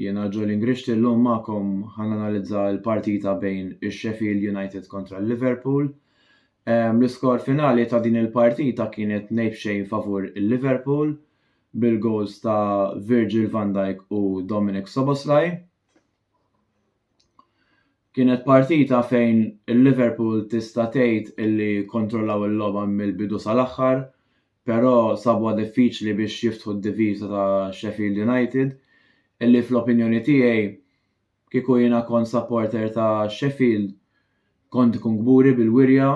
Jiena Joe Lingricht illum magħkom ħa nanalizza l-partita bejn ix-Sheffield United kontra l-Liverpool. L-iskor finali ta' din il-partita kienet ngħid b'xejn favur il-Liverpool bil-goals ta' Virgil van Dijk u Dominik Szoboszlai. Kienet partita fejn il-Liverpool tista' tgħid illi kontrollaw il-logħba mill-bidu sal-aħħar, però sabuha diffiċli biex jiftħu d-diviża ta' Sheffield United illi fl-opinjoni tiegħi kieku jiena kont supporter ta' Sheffield kont ikun kburi bil-wirja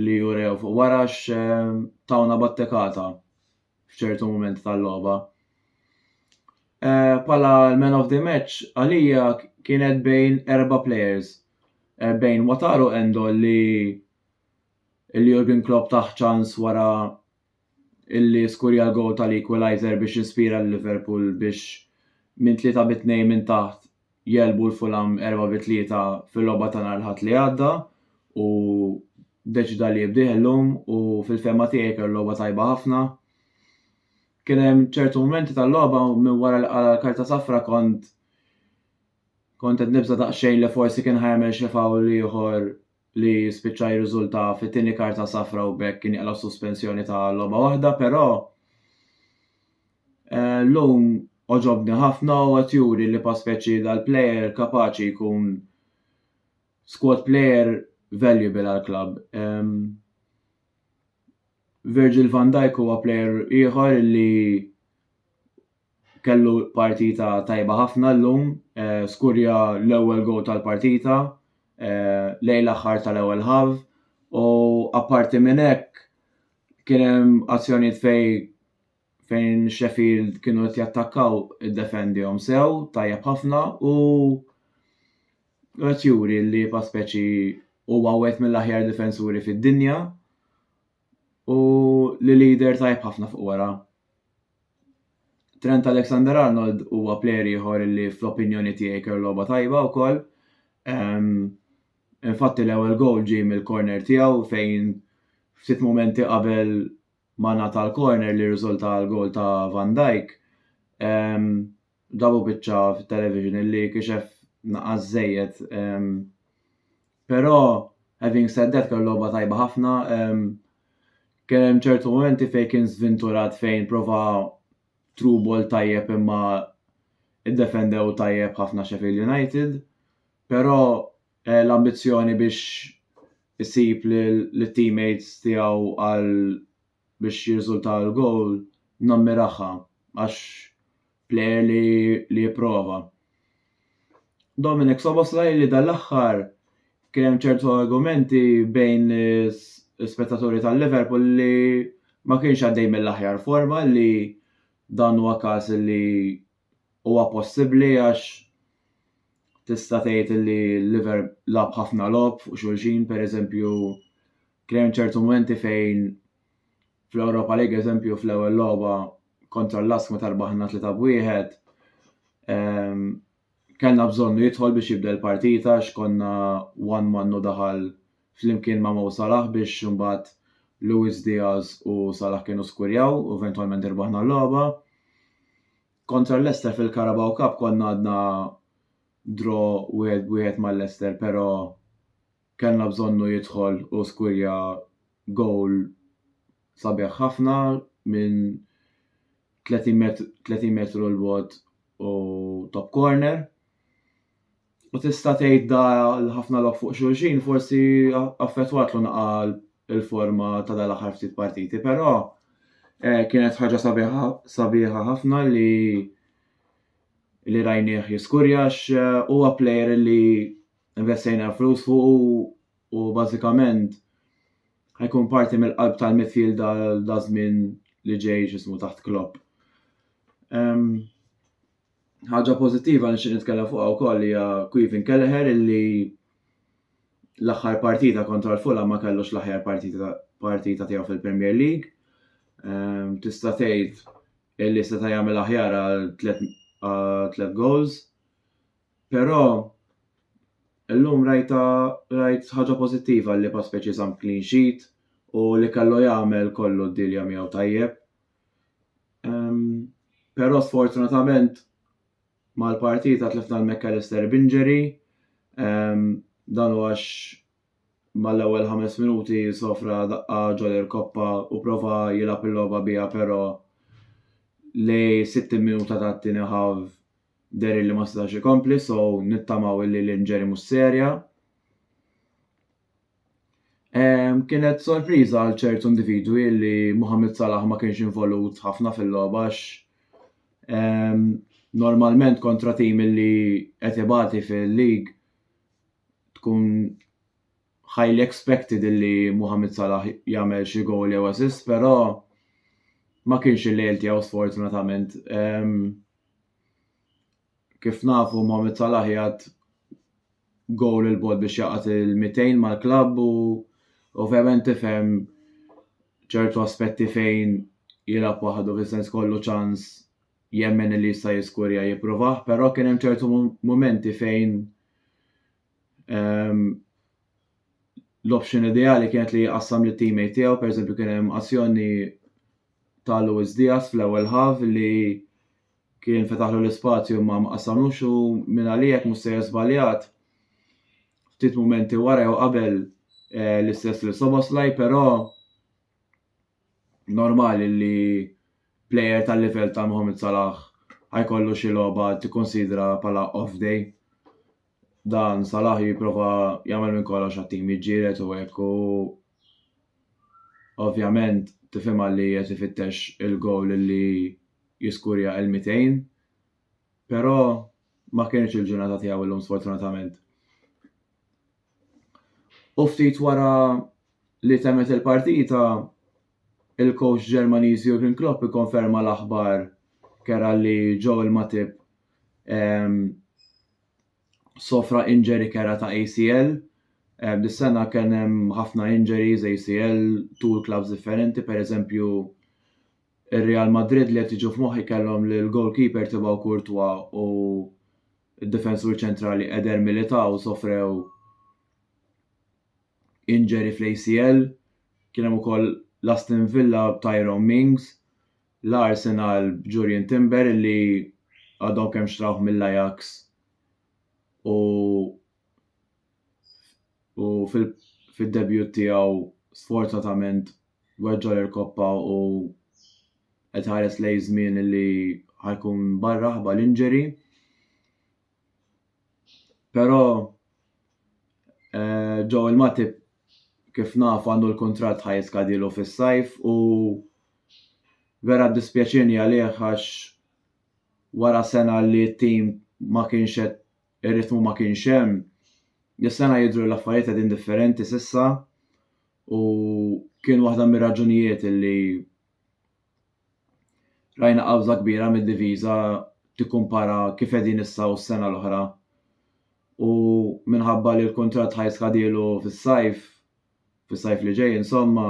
li urew fuq wara għax tawna battekata f'ċertu mumenti tal-logħba. Bħala l-man of the match għalija kienet bejn erba' players bejn Wataru Endo li illi Jurgen Klopp tah ċans wara illi skurja l-gowl tal-equaliser biex ispira lil Liverpool biex minn tlieta bi tnejn minn taħt jegħlbu l-Fulham erbgħa bi tlieta fil-logħba ta' nhar l-Ħadd li għadda u ddeċida li jibdih illum u fil-fehma tiegħi kellu logħba tajba ħafna. Kien hemm ċertu mumenti tal-logħba minn wara li qala l-karta safra kont kont qed nibża' daqsxejn li forsi kien ħajamel xi fawl ieħor li spiċċa jirriżulta fi tieni karta safra u bekk kien jaqla' suspensjoni ta' logħba waħda, però eh, llum oġobni ħafna u qed juri li pa' speċi dal-plejer kapaċi jkun squad plejer valuable għall-klabb. Ehm, Virgil van Dijk huwa plejer ieħor li kellu partita tajba ħafna llum, eh, skurja l-ewwel gow tal-partita eh, lejn l-aħħar tal-ewwel ħav u apparti minn hekk kien hemm azzjonijiet fej fejn Sheffield kienu qed jattakkaw iddefendihom sew tajjeb ħafna u qed juri li pa speċi huwa wieħed mill-aħjar difensuri fid-dinja u li leader tajjeb ħafna fuq wara. Trent Alexander-Arnold huwa plejer ieħor li fl-opinjoni tiegħi kellu logħba tajba wkoll. Um, Infatti l-ewwel goal ġie mill-corner tiegħu fejn ftit momenti qabel ma nata l-corner li rriżulta l-goal ta' Van Dijk. Um, Dabu biċċa fit-television illi kixef naqas żejjed. Um, Però, having said that, kellu logħba tajba ħafna. Um, kien hemm ċertu momenti fejn kien żvinturat fejn prova true ball tajjeb imma iddefendew tajjeb ħafna Sheffield United. Però eh, l-ambizzjoni biex isib l-teammates tiegħu għal biex jirriżulta l-gowl nammirahha għax plejer li li jipprova. Dominik Szoboszlai li dal-aħħar kien hemm ċertu argumenti bejn l-ispettaturi tal-Liverpool li ma kienx għaddej mill-aħjar forma li dan huwa każ li huwa possibbli għax tista' tgħid li l-liver lab ħafna lob fuq xulxin, per eżempju, kien hemm ċertu momenti fejn fl-Europa League, eżempju, fl-ewwel logħba kontra l-Lask ma tarbaħna tlita b'wieħed, ehm, kellna bżonnu jidħol biex jibda l-partita x'konna one man u daħal flimkien ma' Mo Salah biex imbagħad Luis Diaz u Salah kienu skurjaw u eventwalment irbaħna l-logħba. Kontra l-Leicester fil-Carabao Cup konna għadna draw wieħed b'wieħed mal-Leicester però kellna bżonnu jidħol u skurja gowl sabiħ ħafna minn 30 metru 30 metru 'l bogħod u top corner. U tista' tgħid da l-ħafna lob fuq xulxin forsi affettwatlu naqa' l-forma ta' da l-aħħar ftit partiti, però eh, kienet ħaġa sabiħa sabiħa ħafna li li rajnieh jiskurja għax eh, huwa plejer li investejna l-flus fuq u bażikament ħajkun parti mill-qalb tal-midfield da, da żmien li ġej x'ismu taħt Klopp. Um, Ħaġa pożittiva li nixtieq nitkellem fuqha wkoll hija Queven Kelleher illi l-aħħar partita kontra l-Fulham ma kellux l-aħjar partita, partita tiegħu fil-Premier League. Ehm, tista' tgħid illi seta' jagħmel aħjar għal tliet goals. Però illum rajta rajt ħaġa pożittiva li pa speċi żamm clean sheet u li kellu jagħmel kollu d-dilja miegħu tajjeb. Um, Però sfortunatament mal-partita tlifna l-McAllister b'inġeri, um, dan għax mal-ewwel ħames minuti sofra daqqa ġol koppa u prova jilgħab il-logħba biha però li 60 minuta ta' tieni ħav der li ma setax ikompli so nittamaw li l-inġeri mhux serja. Kienet sorpriża għal ċertu individwi li Mohamed Salah ma kienx involut ħafna fil-logħba għax normalment kontra tim li qed ibati fil-lig tkun highly expected li Mohamed Salah jagħmel xi gowl jew assist, però ma kienx il-lejl tiegħu sfortunatament. Kif nafu Mohamed Salah jgħad gowl il-bot biex jaqat il-200 mal-klabb u ovvjament tifhem ċertu aspetti fejn jilgħab waħdu fis-sens kollu ċans jemmen li jista' jiskurja jipprovah, però kien hemm ċertu mumenti fejn ehm, l-option ideali kienet li jqassam li teammate tiegħu, per eżempju kien hemm azzjoni ta' Luis Diaz fl-ewwel ħaf li Kien fetaħlu l-ispazju imma ma qassamlux u mingħaliek mhux sejjer żbaljat. Ftit mumenti wara jew qabel eh, l-istess lil Soboslaj, però normali li plejer tal-livell ta' Mohamed Salah ħajkollu xi logħba tikkonsidra bħala off day. Dan Salah jipprova jagħmel minn kollox għat-tim jiġġieled u hekk u ovvjament tifhimha li qed ifittex il-gowl li jiskurja il-200 però ma kinitx il-ġurnata tiegħu llum sfortunatament. U ftit wara li temet il-partita, il-coach Ġermaniż Jurgen Klopp ikkonferma l-aħbar kera li Joel Matip ehm, sofra injury kera ta' ACL Dis-sena kien hemm ħafna injuries, ACL, tul clubs differenti, per eżempju Ir-Real Madrid li qed jiġu f'moħħi kellhom lill-goalkeeper Thibaut Courtois u d-difensur ċentrali Eder Militao sofrew injury fl-ACL. Kien hemm ukoll l-Aston Villa b'Tyrone Mings, l-Arsenal b'Jurrien Timber li għadhom kemm xtrawh mill-Ajax u u fid-debut tiegħu sfortunatament weġġa' l-irkoppa u qed iħares lejn żmien li ħajkun barra ħabba l-injury. Però eh, ġew il-Matip kif naf għandu l-kuntratt ħaj jiskadilu fis-sajf u vera dispjaċini għalih għax wara sena li t-tim ma kienx qed ir-ritmu ma kienx hemm. Dis-sena jidhru l-affarijiet qegħdin differenti s'issa u kien waħda mir-raġunijiet li rajna qabża kbira mid-diviża tikkumpara kif qegħdin issa u s-sena l-oħra. U minħabba li l-kuntratt ħaj skadilu fis-sajf, fis-sajf li ġej insomma,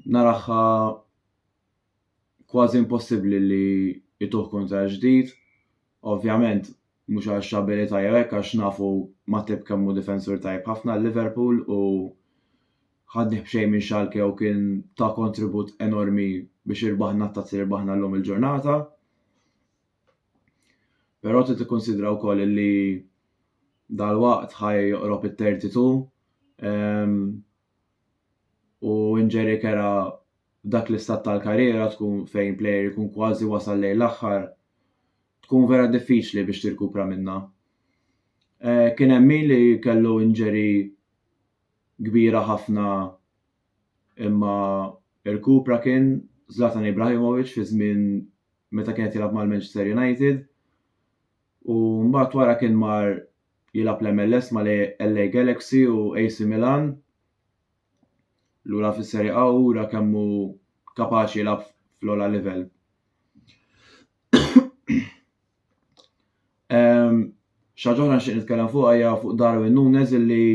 naraha kważi impossibbli li jtuh kuntratt ġdid. Ovvjament mhux għax abilità jew hekk għax nafu Matip kemm hu difensur tajjeb ħafna għal Liverpool u ħadnih b'xejn minn Schalke u kien ta' kontribut enormi biex irbaħna t-tazzi li rbaħna llum il-ġurnata. Però trid tikkunsidra wkoll li dal-waqt ħaj joqrob it-32 um, u inġeri kera f'dak l-istat tal-karriera tkun fejn plejer ikun kważi wasal lejn l-aħħar tkun vera diffiċli biex tirkupra minnha. Eh, kien hemm min li kellu injury kbira ħafna imma irkupra kien Zlatan Ibrahimovic fi żmien meta kien qed jilgħab mal-Manchester United u mbagħad wara kien mar jilgħab l-MLS mal-LA Galaxy u AC Milan lura fis-Serie A u ura kemm hu kapaċi jilgħab fl-ogħla livell. Xaġa oħra nixtieq nitkellem fuq hija fuq Darwin Nunes illi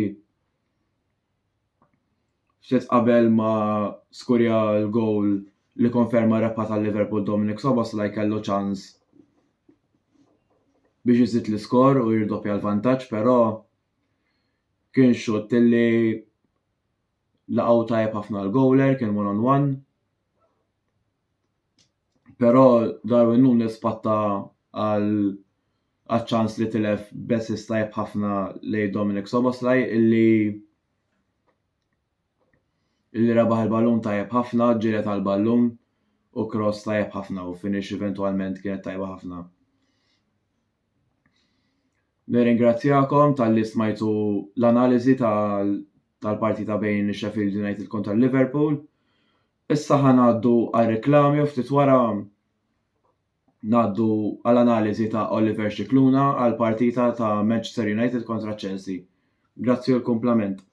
ftit qabel ma skurja l-gowl li konferma rebħa tal-Liverpool Dominic Sobas la jkellu ċans biex iżid l-iskor u jirdoppja l-vantaġġ, però Kien xutt li laqgħu tajjeb ħafna l-goaler, kien one on one. Però Darwin Nunes spatta għal ċans li tilef besis tajjeb ħafna lej Dominic Soboslaj illi illi rebaħ il-ballun tajjeb ħafna, ġiret għal ballun u cross tajjeb ħafna u finish eventualment kienet tajba ħafna. Nirringrazzjakom talli smajtu l-analiżi tal-parti ta' bejn Sheffield United kontra Liverpool. Issa ħa ngħaddu għar-reklami u ftit wara ngħaddu għall-analiżi ta' Oliver Scicluna għall-partita ta' Manchester United kontra Chelsea. Grazzi u l-kumplament.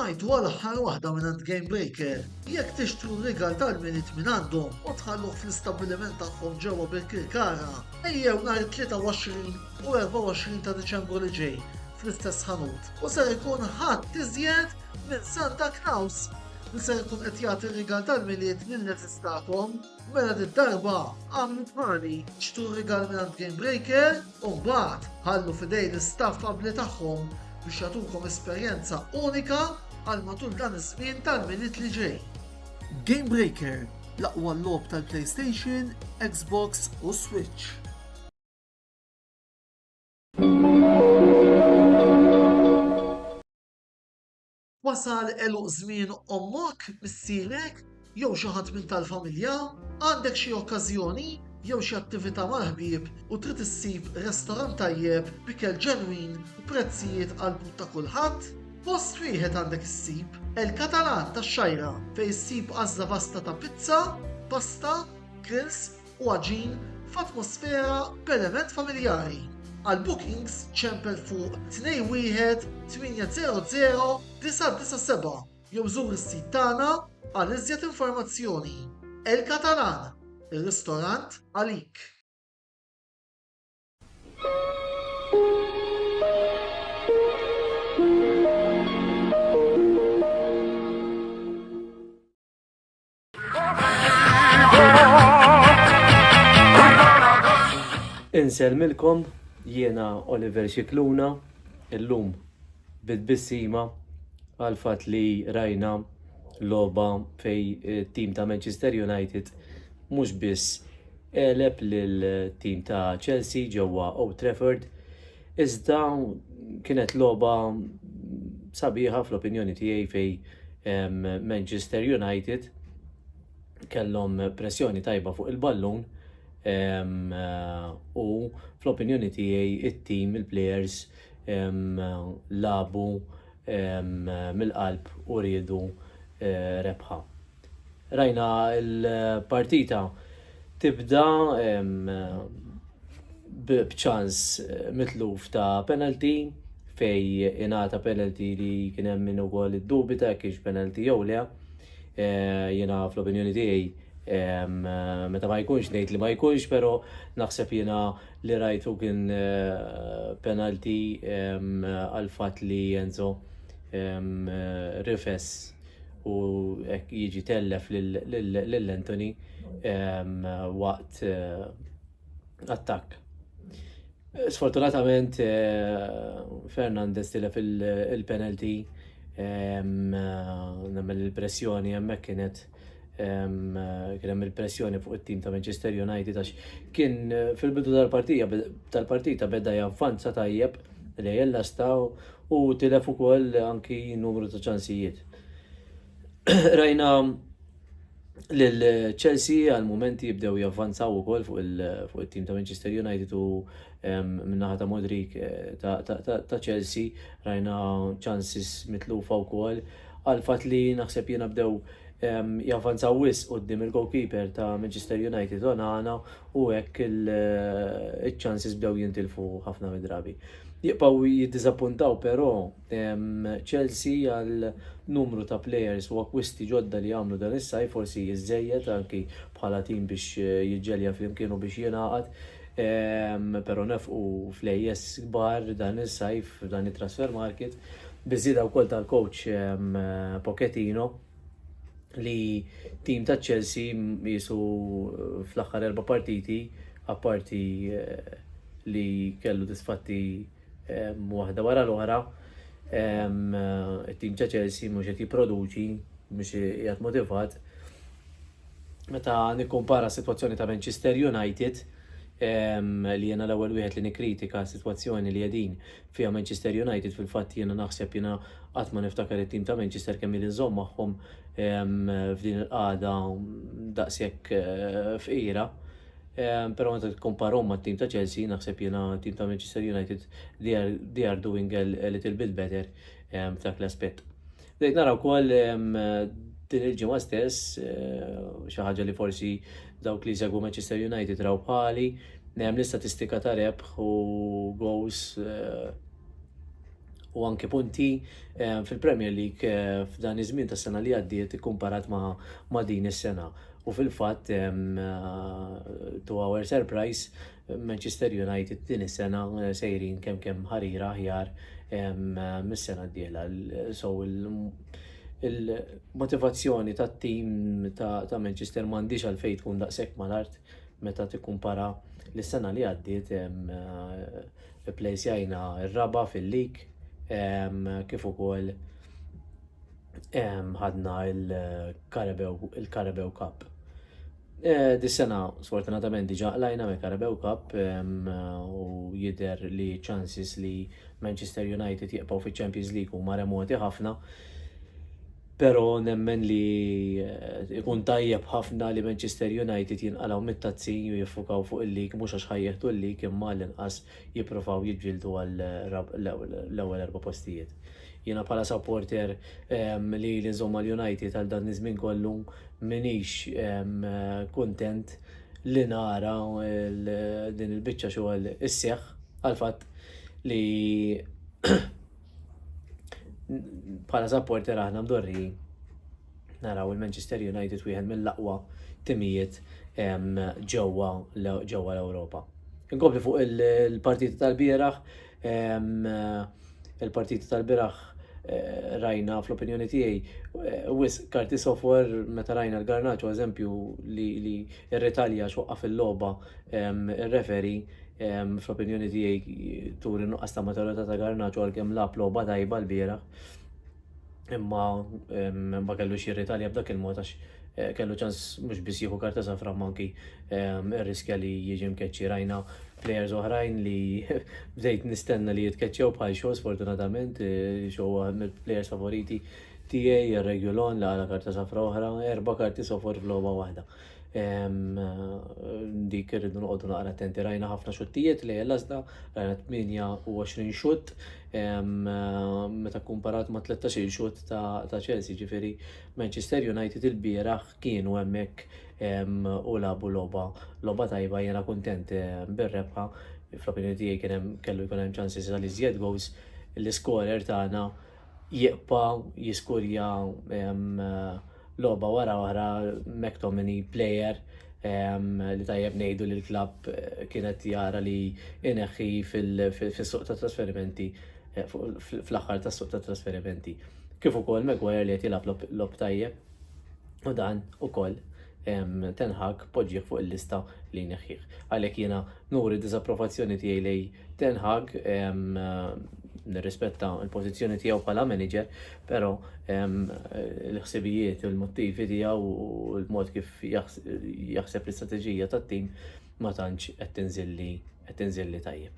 Smajtu għal aħħar waħda minn għand Game Breaker. Jekk tixtru rigal tal-minit minn għandhom u tħalluh fl-istabbiliment tagħhom ġewwa bil-Kirkara, ejjew nhar 23 u 24 ta' Diċembru li ġej fl-istess ħanut. u ser ikun ħadd iżjed minn Santa Knaus li ser ikun qed jagħti rigal tal-Milied lill-eżistakom. Mela did-darba għamlu bħali, xtru rigal mingħand Gamebreaker u mbagħad ħallu f'idejn l-istaff abbli tagħhom biex jagħtukom esperjenza unika għal matul dan iż-żmien tal-Milied li ġej. Gamebreaker, l-aqwa logħob tal-PlayStation, Xbox u Switch. Wasal eluq żmien ommok, missierek, jew xi ħadd minn tal-familja, għandek xi okkażjoni jew xi attività mal-ħbieb u trid issib restorant tajjeb b'ikel ġenwin u prezzijiet għal but ta' kulħadd, post wieħed għandek issib El Catalan tax-Xajra fejn issib għażla vasta ta' pizza, pasta, grills, u għaġin f'atmosfera perement familjari. Għal bookings ċempel fuq 218000997 jew żur is-sit tagħna għal iżjed informazzjoni. El Catalan, ir-ristorant għalik. Inselmilkom jiena Oliver Xikluna illum bit-bissima għal fatt li rajna logħba fej tim ta' Manchester United mhux biss eleb lil tim ta' Chelsea ġewwa Old Trafford Iżda kienet logħba sabiħa fl-opinjoni tiegħi fej Manchester United kellhom pressjoni tajba fuq il-ballun u fl-opinjoni tiegħi it-tim, il-players labu mill-qalb u riedu rebħa. Rajna l-partita tibda b'ċans mitluf ta' penalty fej ingħata penalty li kien hemm min ukoll iddubita jekk kienx penalty jew le. Eh, jiena fl-opinjoni tiegħi meta ma jkunx ngħid li ma jkunx, però naħseb jiena li rajtu kien eh, penalty għal fatt li Enzo rifess u hekk jiġi tellef lil Anthony waqt attakk. Sfortunatament Fernandez tilef il-penalty nemmen li l-pressjoni hemmhekk kienet kien hemm il-pressjoni fuq it-tim ta' Manchester United għax kien fil-bidu tal-partija tal-partita beda javvanza tajjeb L-għejiel nastgħu u tilef ukoll anki numru ta' ċansijiet. Rajna lil Chelsea għal mumenti jibdew javvanzaw ukoll fuq it-tim ta' Manchester United u minnaħa ta' Modric eh, ta' Chelsea rajna ċansis mitlufa wkoll għal fatt li naħseb jiena bdew javvanzaw wis qudiem il-goalkeeper ta' Manchester United Onana u hekk iċ-chances bdew jintilfu ħafna mid-drabi. Jibqgħu jiddiżappuntaw però Chelsea għal numru ta' players u akkwisti ġodda li għamlu dan is-sajf forsi iżżejjed anki bħala tim biex jiġġelja flimkien u biex jingħaqad però nefqu flejjes kbar dan is-sajf f'dan it-trasfer market biż-żieda wkoll tal-coach Pochettino li tim ta' Chelsea jisu eh, fl-aħħar erba' partiti apparti eh, li kellu disfatti eh, waħda wara l-oħra tim ta' Chelsea mhux qed jipproduċi mhux qiegħed motivat meta nikkumpara s-sitwazzjoni ta' Manchester United li jena l-ewwel wieħed li nikkritika s-sitwazzjoni li qegħdin fiha Manchester United fil-fatt jiena naħseb jiena qatt ma niftakar it-tim ta' Manchester kemm ili nżomm magħhom f'din il-qagħda daqshekk eh, fqira. Però meta tikkomparhom mat-tim ta' Chelsea naħseb jiena tim ta' Manchester United they are doing a little bit better f'dak l-aspett. Bdejt nara wkoll din il-ġimgħa stess xi ħaġa li forsi dawk li jsegwu Manchester United raw bħali, hemm l-istatistika ta' rebħ u goals u anke punti fil-Premier League f'dan iż-żmien tas-sena li għaddiet ikkumparat ma' din is-sena. U fil-fatt, to our surprise, Manchester United din is-sena sejrin kemm kemm ħarira aħjar mis-sena d-dieħla. So il-motivazzjoni tat-tim ta' Manchester m'għandix għalfejn tkun daqshekk mal-art meta tikkumpara l-sena li għaddiet ipplejsjajna r-raba' fil-lig kif ukoll ħadna il-Carabao Cup. Eh, dis-sena sfortunatament diġa qlajna me Carabao Cup u jider li chances li Manchester United jibqgħu fi Champions League u ma remoti ħafna. Pero nemmen li eh, ikun tajjeb ħafna li Manchester United jinqalaw mit-tazzin u jiffukaw fuq il-lig mhux għax ħajjeħdu l-lig imma l-inqas jippruvaw jiġġieldu għal l-ewwel erba' postijiet. Jiena bħala supporter li ili nżomm mal-United għal dan iż-żmien kollu m'iniex kuntent li nara din il-biċċa xogħol isseħħ għal fatt li bħala supporter aħna mdorrijin. naraw il-Manchester United wieħed mill-aqwa timijiet ġewwa l-Ewropa. Inkompli fuq il-partiti tal-bieraħ, il-partiti tal-bieraħ eh, rajna fl-opinjoni tiegħi eh, wis karti software meta rajna l-garnaċu eżempju li r-Italja xoqqa fil-logħba ir-referi fl-opinjoni tiegħi turi nuqqas ta' maturità ta' garnaċu għalkemm lab logħba tajba l-bieraħ. imma ma kellux jirritalja b'dak il-mod għax kellu ċans mhux biss jieħu karta safra imma anki rriskja li jiġi mkeċċi. Rajna plejers oħrajn li bdejt nistenna li jitkeċċew bħal xogħol sfortunatament, xogħol għal mill-plejers favoriti tiegħi, ir-Regulon li għala karta safra oħra, erba' karti sofor f'logħba waħda. Dik irridu noqogħdu naqra attenti. Rajna ħafna xuttijiet lejn l-għażla, rajna 28 xutt meta kkumparat ma' 13 xutt ta' Chelsea, ġifieri Manchester United il-bieraħ kienu hemmhekk u labu logħba logħba tajba jiena kuntent bir-rebħa. Fl-opinjoni tiegħi kien hemm kellu jkun hemm ċansis għal iżjed goals. L-iskorer tagħna jiqpaw, jiskurjaw logħba wara oħra McTominay player li tajjeb ngħidu li l-klabb eh, kienet jara li ineħħi fis-suq ta' trasferimenti eh, fl-aħħar tas-suq ta' trasferimenti. Kif ukoll Maguire li qed jilgħab lob tajjeb u dan ukoll tenħak poġġieħ fuq il-lista li neħħieħ. Għalhekk jiena nuri diżapprovazzjoni tiegħi lej Ten Hag nirrispetta l-pożizzjoni tiegħu bħala manager, però l-ħsibijiet u l-mottivi tiegħu u l-mod kif jaħseb l-istrateġija tat-tim ma tantx qed tinżilli qed tinżilli tajjeb.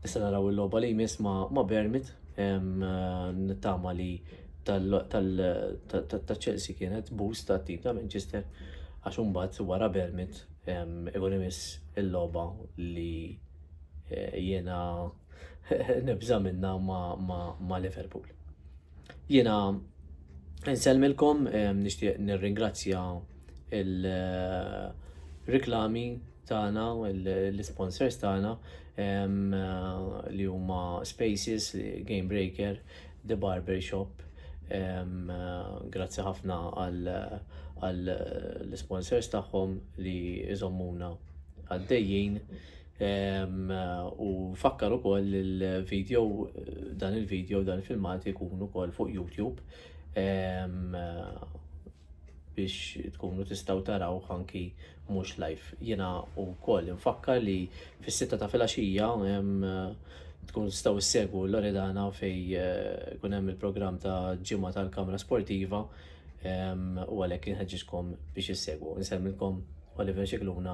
Nista' naraw il-logħba li jmiss ma' ma' Bermit nittama li tal-Chelsea kienet boost tat-tim ta' Manchester għax imbagħad wara Bermit ikun imiss il-logħba li eh, jiena nibża minna ma' Liverpool. Jiena nselmilkom eh, nixtieq nirringrazzja il-reklami eh, tagħna, l-sponsors tagħna li huma Spaces, Game Breaker, The Barber Shop. Grazzi ħafna għal għal l-sponsors tagħhom li jżommuna għaddejjin. U fakkar ukoll il-video, dan il-video, dan il-filmat ikun ukoll fuq YouTube biex tkunu tistaw taraw anki mhux live. Jiena wkoll infakkar li fis-sitta ta' filgħaxija tkun tistaw issegwu Loredana fej eh, kun hemm il-programm ta' ġimgħa tal-Kamra Sportiva u għalhekk inħeġġiskom biex issegwu. Nsemmilkom Oliver Xikluna